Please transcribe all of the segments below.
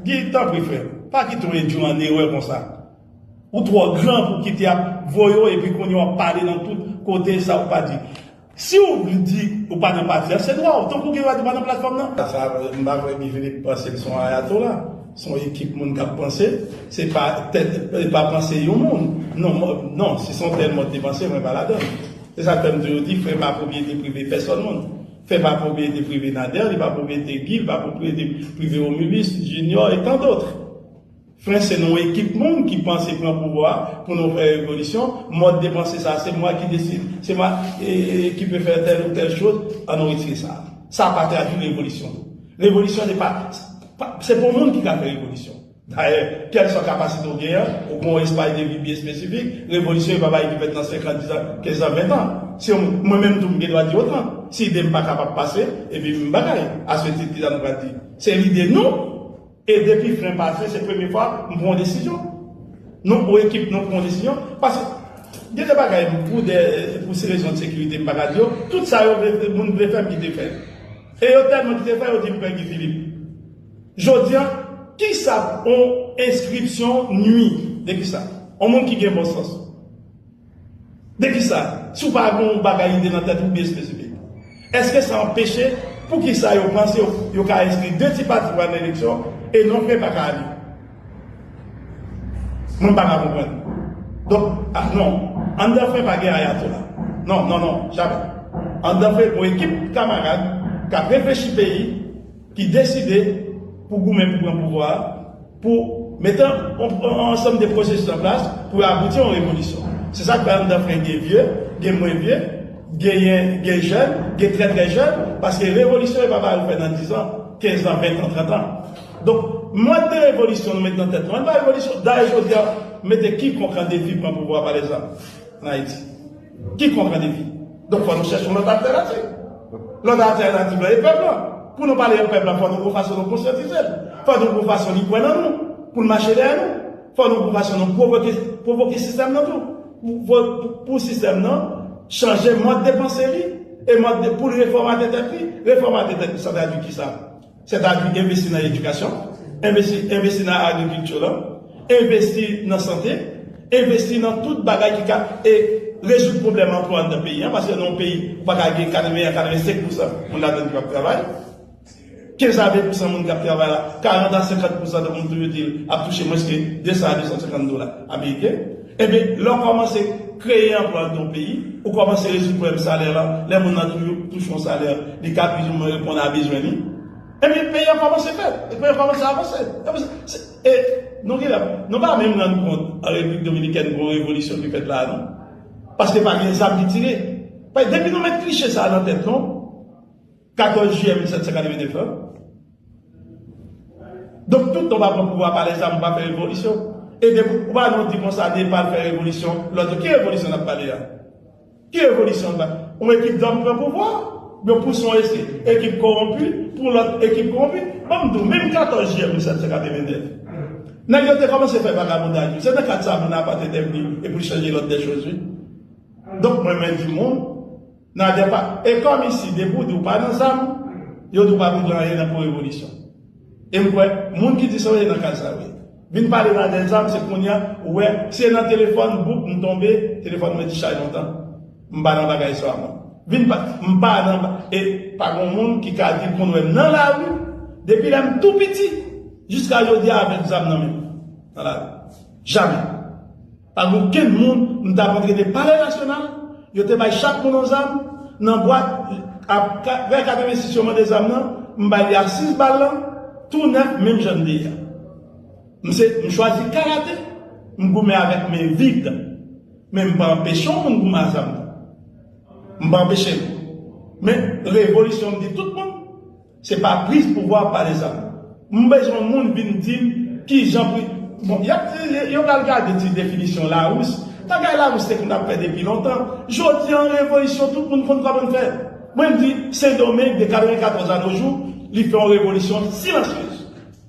Guy tanpri frèm pa kite yon edjou an erè konsa ou twò gran pou kite ap voye w epi kounye w ap pale nan tout kote sa ou pa di. Siw vle di ou pa nan pati a se dwa w, tankou w gen dwa di ou pa nan platfòm nan. Sa m pa kwè Guy Philippe panse l se yon ayatola, se yon ekip moun k ap panse, se pa tèt e pa panse yon moun. Non, non, si se yon tèl mòd de panse mwen pa ladan l. Se sa k fè m toujou di fè pa pwopriyete prive pèsòn moun. Fè pa pwopriyete prive Nader, li pa pwopriyete Guy, li pa pwopriyete prive Romulus, Junior et tant d'autres. Fren se non ekip moun ki panse pran pouvwa pou nou fè revolisyon, mòd de panse sa se mwa ki deside, se mwa ki pe fè tèl ou tèl choz, an nou retire sa. Sa pa tradwi revolisyon tou. Revolisyon se pa, se pa w moun ki ka fè revolisyon. Dayè, kèlswa kapasite w gen an, ou pran yon espay de vi byen espesifik, revolisyon e pa bagay ki fèt nan senkan, dizan, kenzan, ventan. Si yon moun, mwen menm tou m gen dwa di otan, si ide m pa kapab pase, epi m bagay. Aswetit kisa nou pral di? Se lide nou? E depi fen pase se premye fwa m pran yon desizyon. Nou pou ekip nou pran yon desizyon. Paske gen de bagay pou de pou se rezon de sekirite m pa ka di yo. Tout sa yo vle moun vle fè m kite fè. E yo tèlman kite fè yo di m pè Guy Philippe. Jodi an kisa yon enskripsyon nwi? De kisa? Yon moun ki gen bon sans. De ki sa? Si w pa gen yon bagay ide nan tèt ou byen espesifik. Eske sa anpeche pou ki sa yo panse yo ka enskri 2 ti pati pou al nan eleksyon e non p pa ka ale? Mwen pa ka konprann. Donk, a non. Anndan p pa gen ayatola. Non, non, non. Jamè. Anndan p gon ekip kamarad k ap reflechi peyi. ki deside pou goumen pou pran pouvwa a, pou mete yon ansanm de pwosesis an plas pou yo abouti a yon revolisyon. Se sa k fè anndan fren gen vye, gen mwen vye, genyen gen jèn, gen trè trè jèn, paske revolisyon yo pa ba yo fè nan dizan, kenzan, ventan, trantan. Donk, mòd de revolisyon nou mete nan tèt nou an, li pa revolisyon. Dayè jodi a, mete kikonk an defi pran pouvwa a pa lèzòm an Ayiti. Ki kontra defi? Donk fò nou chèche yon lòt altènativ. Lòt altènativ la e pèp lan. Pou nou pale ak pèp lan fò nou gon fason nou konsyantize l. Fò nou gon fason li kwè nan nou pou l mache dèyè nou. Fò nou gon fason nou pwovoke sistèm nan tou pou sistèm nan chanje mòd de panse li e mòd pou l refòmate tèt li. Refòmate tèt li sa tradui kisa? Sètadi envesti nan edikasyon, envesti nan agrikilti lan, envesti nan sante, envesti nan tout bagay ki ka rezoud pwoblèm anplwa anndan peyi an, paske nan yon peyi ou pa ka gen 80 a 85 pousan moun ladan ki pa p travay, 15 a 20 pousan moun k ap travay la, 40 a 50 pousan nan moun tou yo di l ap touche mwens ke 200 a 250 dola ameriken. Enben, lè w kòmanse kreye anplwa nan yon peyi, ou kòmanse rezoud pwoblèm salè la, lè moun nan toujou touche yon salè li ka plizoumwen reponn a bezwen li, enben peyi a kòmanse fèt, e peyi a kòmanse avanse. E nou genlè, nou pa menm rann kont an Repiblik Dominikèn gon revolisyon ki fèt la a non. Paske pa gen zam ki tire. Depi nou met kliche sa a nan tèt nou. 14 jiyè 1789 lan. Donk tout tan w pa pran pouvwa pa lè zam ou pa fè revolisyon. E depi ou pa nou di konsa de pa fè revolisyon lòt yo ki revolisyon nap pale a? Ki revolisyon nap pale? Yon ekip gang pran pouvwa yo pouse yon ese ekip kowonpi pou lòt ekip kowonpi. Ban m di w menm 14 jiyè 1789 nèg yo te kòmanse fè vagabondaj wi. Se nan kad sa Bonaparte te vini e pou l chanje lòd dè choz wi. Donk mwen mwen di moun. Nadia pa e kòm isi depi w di w pa nan zam yo di w pa vle pran anyen nan pou revolisyon e m kwè moun ki di sa w ye nan kay sa w ye vin pale nan de zam se kounya ou wè se nan telefòn bouk m tonbe telefòn mwen t chay lontan m pa nan bagay sa mwen vin pa m pa nan ba e pa gon moun ki ka di l konn wè m nan lari depi lè m tou piti jiska jodi a avèk zam nan men m nan lari jamè. Pa gen okenn moun m ta kontre te palè nasyonal, yo te bay chak moun yon zam, nan bwat ap vè 86 yo mande zam nan, m bay li a 6 bal lan, tou nèf menm jan l te ye a. M se m chwazi karate, m goumen avèk men vid, men m pa anpeche yon moun goumen a zam nan. M pa anpeche l. Men revolisyon m di tout moun. Se pa prise pouvwa pa de sa. M bezwen moun vin dim kijan pri bon yap yo pral gade ti definisyon larous bagay larous te konn ap fè depi lontan jodi an revolisyon tout moun konn koman fè mwen m di sendomeng de 94 anojou li fè yon revolisyon silansyez.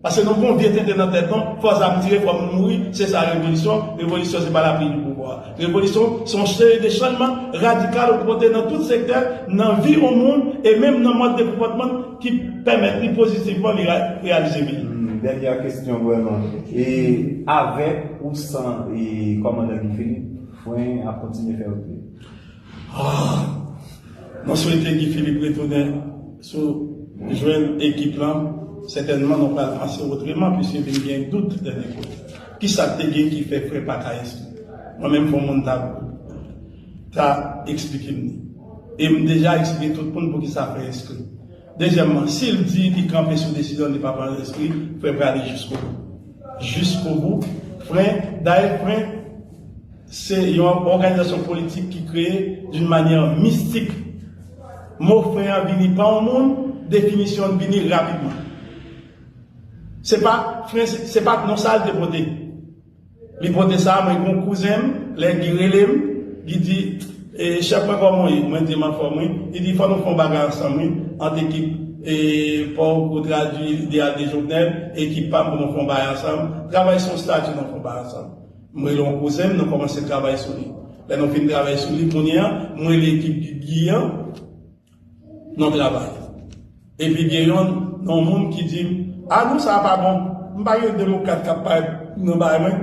Paske nou gon vye tenten nan tèt nou, fò zam tire, fò moun mouri, se sa revolisyon, revolisyon se pa lapli ni pouvwa. Revolisyon se yon seri de channman radikal ou pote nan tout sektè nan vi yon moun e menm nan mòd de konpòtman l ki pèmèt li pozitivman li reyalize bi l. Dènyè kesyon vrèman. E avèk ou san kòmandan Guy Philippe, fren an ap kontinye fè wout li? Aah! Mwen swete Guy Philippe retounen sou jwen ekip lan, sètènman nou pral panse otreman pwiske vin gen dout dènye kout. Kisa k te gen ki fè frè pa ka enskri? Mwen menm fò moun ta ta eksplike m li. E m deja eksplike tout moun poukisa frè enskri. Dezyèmman, si l di li kanpe sou desizyon l li pa pral enskri, frè prale jiskobou. Jiskobou, fren, dayè fren. Se yon òganizasyon politik ki kreye d'une manière mystique. Mo fen an vini pa yon moun, definisyon l vini rapidman. Se pa fen, se pa non sa l te pote. Li pote sa, mwen gen yon kouzen m, lè Guy rele m, Guy di, Chèf mwen kòman w ye? Mwen di m anfòm wi. Li di fò nou fè yon bagay ansanm wi, ant ekip pa w pou tradui ideal de Jovenel e ekip pa m pou nou fè yon bagay ansanm. Travay se yon stati nou fè yon bagay ansanm. M rele yon kouzen m, nou kòmanse travay sou li. Lè nou fin travay sou li kounye a, m rele ekip Bibye an, nou travay. Epi gen yon yon moun ki di m, A non, sa a pa bon. M pa gen 2 mo 4 k ap parèt nan bay mwen.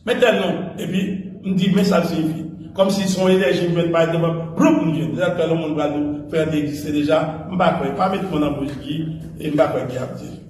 Men tèl non. Epi, m di, men sa l siyifi. Kòmsi s on enèji m jwenn parèt devan, bloup m jwenn. Se sa k fè lè yon moun pral di, Fè an te egziste deja, m pa kwè. Pa met mo nan bouch Guy e m pa kwè Guy ap di l.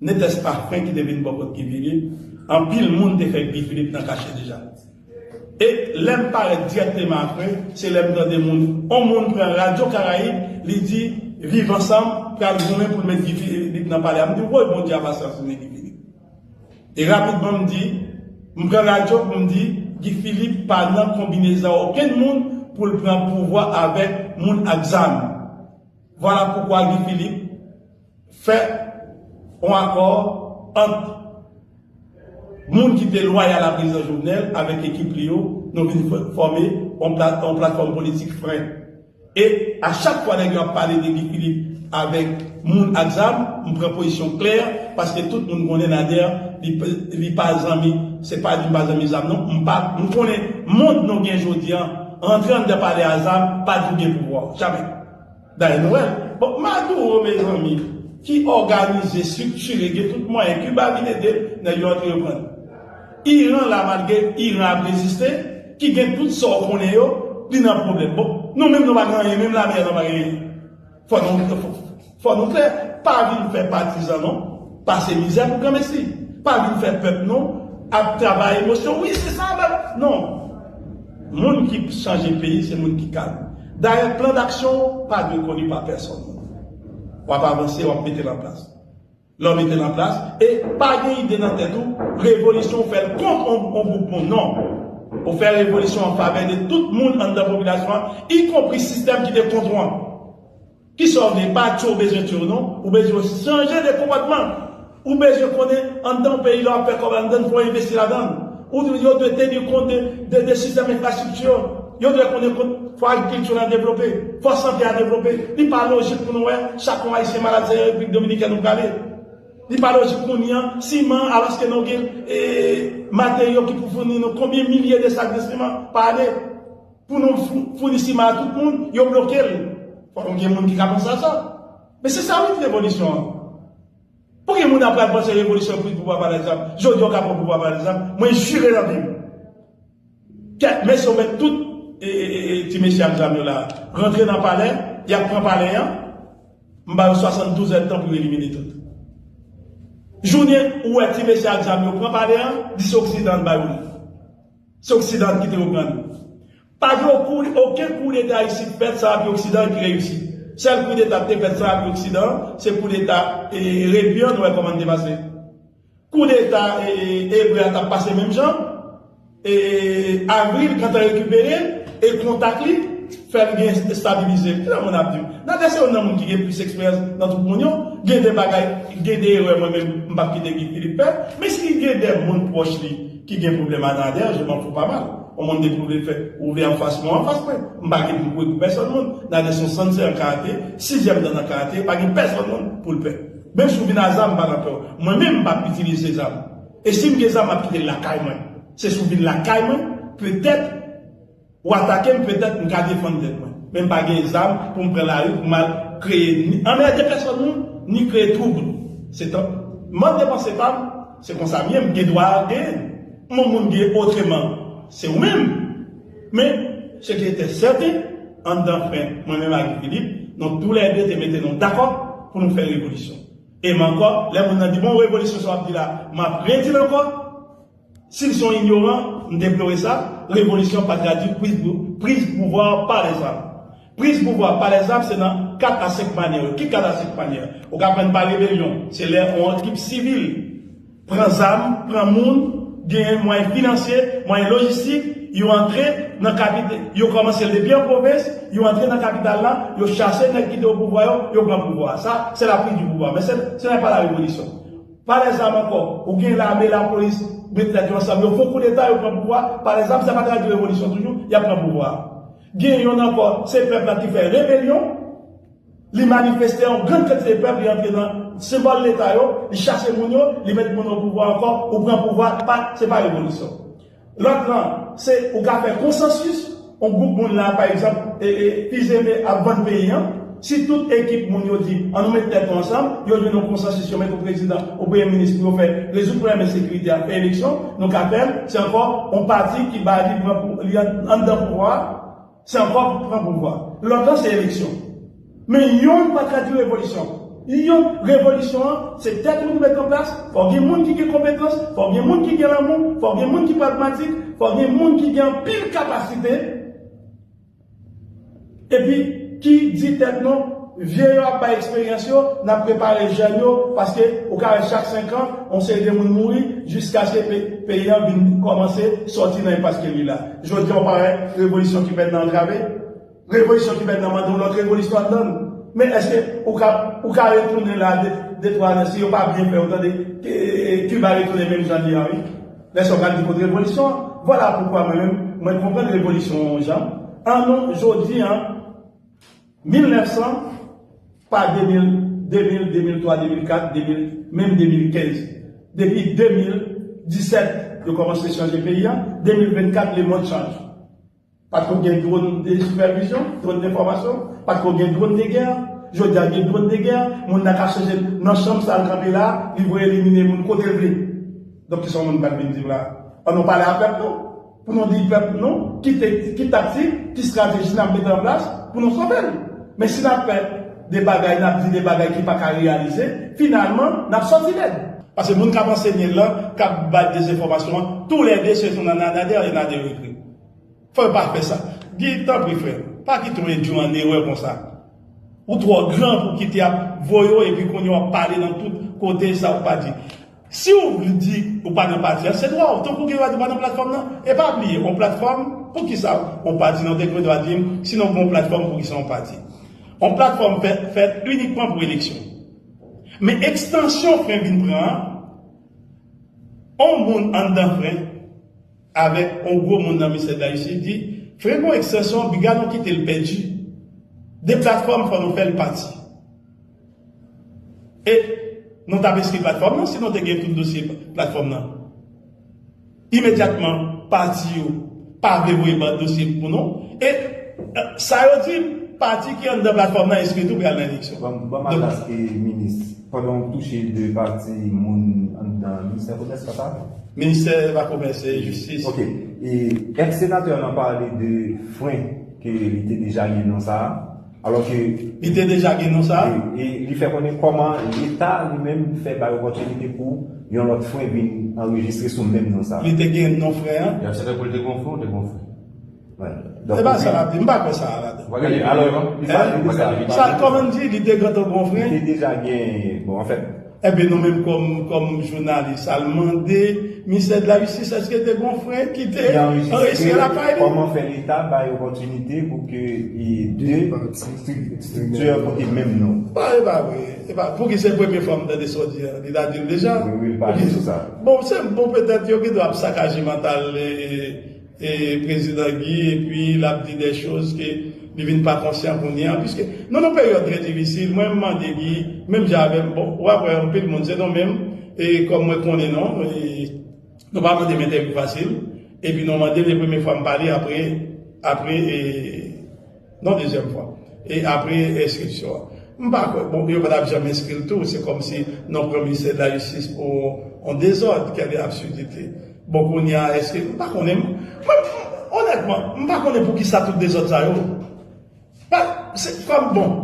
Netès pa frenk ki te vin bò kot Guy Philippe, anpil moun te fè Guy Philippe nan kache deja. E lè m parèt dirèkteman apre, se lè m tande moun, on moun pran radyo Karayib, li di Viv Ansanm pral goumen pou l met Guy Philippe nan palè a. M di woy bon Dye a pa sansine Guy Philippe. E rapidman m di, m pran radyo pou m di Guy Philippe pa nan konbinezan okenn moun pou l pran pouvwa avèk moun ak zam. Vwala poukwa Guy Philippe. Fè yon akò ant moun ki te lwayal a Prezidan Jovenel avèk ekip li yo, nou vin fòme yon platfòm politik fre. E a chak fwa nèg yo ap pale de Guy Philippe avèk moun ak zam, m pran pozisyon klè paske tout moun konnen Nader li pa zanmi, se pa di m pa zanmi zam non, m pa, m konnen mond nou gen jodi an, rantre anndan pale a zam pa di w gen pouvwa, jamè. Dany Noel, Bon, Maduro mezanmi ki òganize, striktire, gen tout mwayen, Kiba vin ede l, nèg yo antre yo pran l. Iran la malgre Iran ap reziste, ki gen tout sa w konnen yo, li nan pwoblèm. Bon, nou menm nou pa gen anyen, menm lame a nou pa gen anyen. Fò nou klè, fò nou klè, pa vin fè patizan non, pase mizè pou granmesi. Pa vin fè pèp nou ap travay emosyon, wi se sa, non. Moun ki chanje peyi se moun ki kalm. Dayè plan daksyon w pa dwe koni pa pèsonn. W ap avanse, w ap mete l an plas. Lè w mete l an plas, e pa gen ide nan tèt ou, revolisyon w fè l kont on gwoup moun, non. Ou fè revolisyon an favè de tout moun anndan popilasyon an, ikonpri sistèm ki te kont ou an. Kisa w gen? Pa di w bezwen tiye w non. Ou bezwen chanje de konpòtman. Ou bezwen konnen anndan yon peyi lè w ap fè kòb anndan l fò w envesti ladan l. Ou dwe, yo dwe teni kont de de sistèm enfrastrikti yo. Yo dwe konnen kont fò agrikilti lan devlope, fò sante a devlope. Li pa lojik pou nou wè chak yon Ayisyen malad se Repiblik Dominikèn ou prale. Li pa lojik kounye an siman an alòske nou gen e materyo ki pou founi nou konbyen milye de sak de siman pa ane. Pou nou founi siman a tout moun, yo bloke l. Fò nou gen moun ki ka panse a sa. Men se sa wi ki revolisyon an. Pou ki moun ap pral panse revolisyon prit pouvwa pa lèzam? Jodi a w ka pran pouvwa pa lèzam, mwen jire nan vi m. Kè, men si yo met tout ti mesye ak zam yo la rantre nan palè, y ap pran palè an, m ba yo 72 èd tan pou yo elimine tout. Jounen ou wè ti mesye ak zam yo pran palè an, 10 oksidan l ba yo li. Se oksidan an ki te reprann yo. Pa gen oken kou deta isit fèt sa api oksidan an ki reyisi. Sèl kou deta ki te fèt sa api oksidan an se kou deta Rebu an nou wè kòman li te pase. Kou deta Ebre a tap pase menm jan. Avril gentan rekipere e kontak li fèl gen estabilize. Kilè moun ap di ou. Nader se youn nan moun ki gen plis eksperyans nan tout moun yo. Gen de bagay, gen de erè mwen menm m pap kite Guy Philippe fè. Men si gen de moun pwòch li. Ki gen pwoblèm a Nader, je m'en fous pas mal. On moun depi ou vle fè, ou vle anfas mwen, anfas mwen. M pa gen pou m kouri pou pèsòn moun. Nader se yon sanzè an karate, sizyèm dan nan karate, pa gen pèsòn moun pou l pè. Menm si w vin a zam, m pa nan pè w. Mwen menm m pap itilize zam. E si m gen zam m ap kite l lakay mwen. Se si w vin lakay mwen, petèt Ou atake m petèt m ka defann tèt mwen, men m pa gen zam pou m pran lari pou m al kreye ni anmède pèsòn moun ni kreye twoub. Se tank m ap depanse pa m, se konsa m ye, m gen dwa genyen m yon moun genyen otreman se ou menm. Men, se ki etè sèten, anndan fen mwen menm ak Guy Philippe, nou tou lè de te mete nou dakò pou nou fè revolisyon. E m ankò, lè moun nan di bon revolisyon sa w ap di la, m ap redi l ankò, Sil son inyoran, m deplore sa, revolisyon pa tradwi priz pouvwa pa lèzam. Priz pouvwa pa lèzam se nan 4 a 5 manyè yo. Ki 4 a 5 manyè? Ou ka pran n pa rebelyon, se lè on trip sivil pran zam, pran moun, genyen mwayen finansye, mwayen lojistik, yo antre nan kapite, yo kòmanse l depi an pwovens, yo antre nan kapital la, yo chase nèg ki te o pouvwa yo, yo pran pouvwa a. Sa, se la priz di pouvwa. Men se, se nan pa la revolisyon. Pale zam ankò. Ou gen lame, lapolis, met tèt yo ansanm, yo fon koudeta, yo pran pouvwa, pale zam, sa pa tradui revolisyon toujou, y ap pran pouvwa a. Gen yonn ankò, se pèp la ki fè rebelyon, li manifeste yon gran kantite pèp, li antre nan senbòl leta yo, li chase moun yo, li met moun o pouvwa ankò, ou pran pouvwa, pa, se pa revolisyon. Lòt lan, se ou ka fè konsansis, on gwoup moun la pa egzanp Fils-Aimé ap vann peyi an, si tout ekip moun yo di an nou met tèt nou ansanm, yo jwenn on konsansis yo met on prezidan, on premye minis pou yo fè rezoud pwoblèm ensekirite a, fè eleksyon, nou ka fè l, se ankò on pati ki bay li pran pou li anndan pouvwa a. San kòb pou pran pouvwa. Lontan se eleksyon. Men yonn pa tradi revolisyon. Yon revolisyon an se tèt moun met an plas, fò gen moun ki gen konpetans, fò gen moun ki gen lanmou, fò gen moun ki pragmatik, fò gen moun ki gen anpil kapasite epi ki di tèt nou vye yo ap bay eksperyans yo, n ap prepare jèn yo paske ou ka wè chak senkan yon seri de moun mouri jiskaske peyi an vin kòmanse sòti nan enpas ke li la. Jodi a ou pa wè revolisyon ki fèt nan antrave, revolisyon ki fèt nan mande yon lòt revolisyon anndan l. Men èske ou ka ou ka retounen la de twa zan si yo pa byen fè ou tande Kiba retounen menm jan l ye a wi. Lè sa ou pral di kote revolisyon an. Vwala poukwa mwen menm mwen konprann revolisyon yon jan. An nou jodi a. 1900 pa 2000 2000 2003 2004 2000 menm 2015 depi 2017 yo komanse chanje peyi a 2024 le mond chanje pat ko gen dron de sipèvizyon dron de fòmasyon pat ko gen dron de gè jodia gen dron de gè moun nan ka chanje nan chanm sal kanpe la li voye elimine moun kotel vle donk kisa moun pral vin dim la an nou pale a pèp nou. Pou nou di pèp nou ki taktik, ki strateji n ap mete an plas pou nou sove l. Men si n ap fè de bagay, n ap di de bagay ki pa ka reyalize, finalman n ap sòti lèd. Pase moun k ap ansenye l lan, k ap bay dezenfòmasyon an, tou lè de se yon Nader e Nader ekri. Fò yo pa fè sa. Guy, tanpri frè, pa kite w endui an erè konsa. Ou twò gran pou w kite y ap voye w epi kounye w ap pale nan tout kote sa ou pa di. Siw vle di ou pa nan pati an se dwa w, tankou w gen dwa di ou pa nan platfòm nan. E pa bliye on platfòm poukisa on pati nan, ou te gen dwa dim si nan gon platfòm poukisa on pati. On platfòm fèt inikman pou eleksyon. Men ekstansyon fren vin pran an, on moun anndan fren avèk on gwo moun nan Ministè Dlajistis di fren gon ekstansyon biga nou kitel pèdi. De platfòm fò nou fèl pati. E nou t ap enskri platfòm nan si nou te gen tout dosye platfòm nan. Imedyatman pati yo pa vle voye ban dosye pou nou e sa yo di m pati ki anndan platfòm nan enskri tou pral nan eleksyon. Ban m adrès e minis pandan w touche de pati moun anndan ministè komès pa sa? Ministè pa komès e jistis. Ok. E èske senatè an pale de fren ke li te deja gen nan sa a? Alò ke. Li te deja gen non sa a? E li fè konnen kòman Leta li menm fè bay opòtinite pou yon lòt frè vin anrejistre sou menm non sa a. Li te gen non frè an? Li aksepte pou li te gen yon frè ou te gen yon frè? Donk. Se pa sa l ap di. M pa kwè sa a ladan. Ou pa gade videyo an? Sa l kòmann di? Li te gentan gen yon frè? Li te deja gen, bon anfèt. Enben nou menm kòm jounalis al mande Ministè de la Justice èske te gon fren ki te anrejistre lakay li? Kòman fè leta bay opòtinite pou ke 2 strikti yo pote menm non? Bon e pa vre, e pa vre. Pouki se premye fwa m tande sa w di a? Li ta di l deja? Wi wi, li pale sou sa. Bon petèt yo gen dwa ap sakaje mantal. Prezidan Guy epi lap di des choses ke li vin pa konsyan kounye an puiske nou nan peryòd trè difisil mwen mande Guy menm jan avèm bon wap wè anpil moun se nou menm kòm mwen konnen non nou pa mandem entèvyou fasil epi nou mandem e premye fwa m pale apre apre Non dezyèm fwa. E apre enskripsyon an? M pa kwè. Bon, yo pa t ap janm enskri l tou. Se kòmsi n ap pran Ministè de la Jistis pou yon dezòd. Kèle absurdite! Bon kounye a èske. M pa konnen. Mwen, onètman, m pa konnen poukisa tout dezòd sa yo. Pa, se kòm, bon,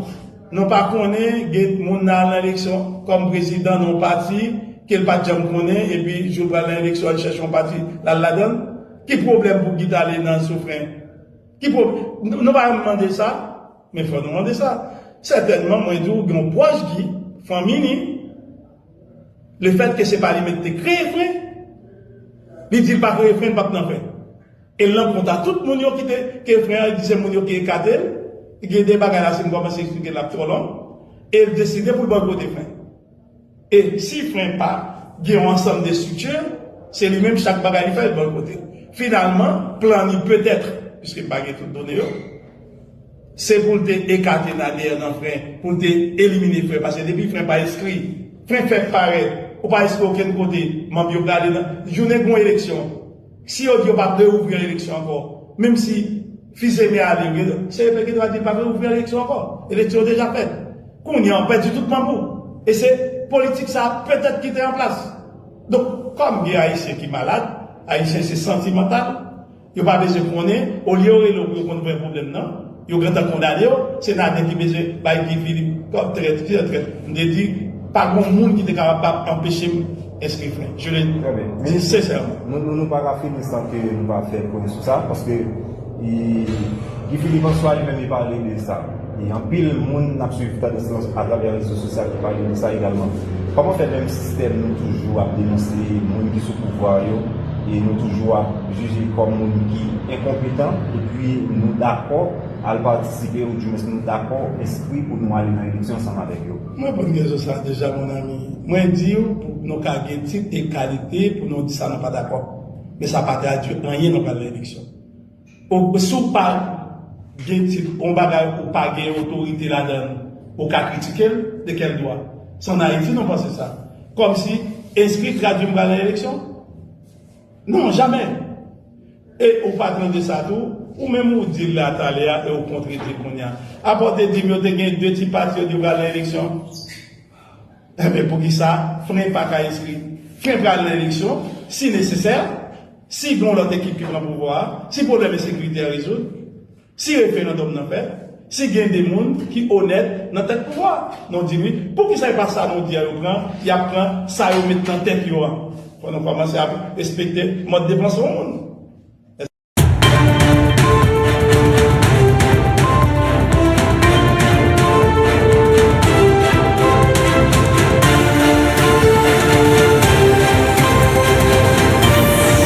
nou pa konnen gen moun nan al nan eleksyon kòm prezidan nan yon pati ke l pa t janm konnen epi jou l pral nan eleksyon an l chèche yon pati l al ladan l. Ki pwoblèm pou Guy t ale nan Soufren? Ki pwoblèm? Nou pa janm mande sa, men fò nou mande sa. Sètènman, mwen di w gen yon pwòch di, fanmi li, lefètke se pa li menm te kreye fen, li di l pa kreye fen, li pa t nan fen. E l nan kont a tout moun yo ki te kreye fen an, li di se moun yo ki ekate l, gen de bagay la si m kòmanse eksplike l ap twò long, e l deside pou l bòykote fen. E si fren pa gen yon ansanm de estrikti, se li menm chak bagay li fè l bò l kote. Finalman, plan li petèt, piske m pa gen tout done yo, se pou l te ekate Nader nan fren, pou l te elimine fren, paske depi fren pa enskri, fren fè parèt, ou pa enskri okenn kote, manb yo prale nan, jounen gen yon eleksyon, Si yo di yo pap reouvrir eleksyon ankò, menm si Fils-Aimé ale vre, CEP gen dwa di l pa reouvrir eleksyon ankò. Eleksyon yo deja fèt. Kounye an, w pèdi tout manboul. E se politik sa a petèt ki te an plas. Donk, kòm gen Ayisyen ki malad, Ayisyen se santimantal, yo pa bezwen konnen, olye yo rele w pou yo konn vrè pwoblèm nan, Yo gentan kondanew se Nader ki bezwen bay Guy Philippe kòb trèt fier trèt m te di pa gon moun ki te kapab pa anpechem enskri frenk je le di sincèrement. Nou pa ka fini san ke nou pa fè pwen sou sa paske Guy Philippe an swa li menm li pale de sa e anpil moun nap swiv tandans lan atravè rezo sosyal ki pale de sa egalman kòman fè menm sistèm nou toujou ap denonse moun ki sou pouvwa yo e nou toujou ap jije kòm moun ki enkonpetan epi nou dakò al patisipe ou di mwens nou dakò enskri pou nou ale nan eleksyon ansanm avèk yo. M reponn kesyon sa deja mon ami. Mwen di w pou nou ka gen tit e kalite pou nou di sa nou pa dakò. Men sa pa tradwi anyen nou pral nan eleksyon. Ou si w pa gen tit yon bagay ou pa gen otorite ladan l ou ka kritike l de kèl dwa? Se an Ayiti nou panse sa. Kòmsi enskri tradwi m pral nan eleksyon? Non jamè! E ou pa tande sa tou? Ou menm ou di l la talè a e ou kontredi kounye a. Apa w te di m yo te gen 2 ti patriyòt yo pral nan eleksyon? Enben poukisa fren pa ka enskri? Fren pral nan eleksyon si nesesè, si gen yon lòt ekip ki pran pouvwa a, si pwoblèm ensekirite a rezoud. Si referandòm nan fèt, si gen 2 moun ki onèt nan tèt pouvwa a, nou di wi, poukisa e pa sa nou di a yo pran, y ap pran sa yo met nan tèt yo an? Fò nou kòmanse ap respekte mòd de panse yon moun.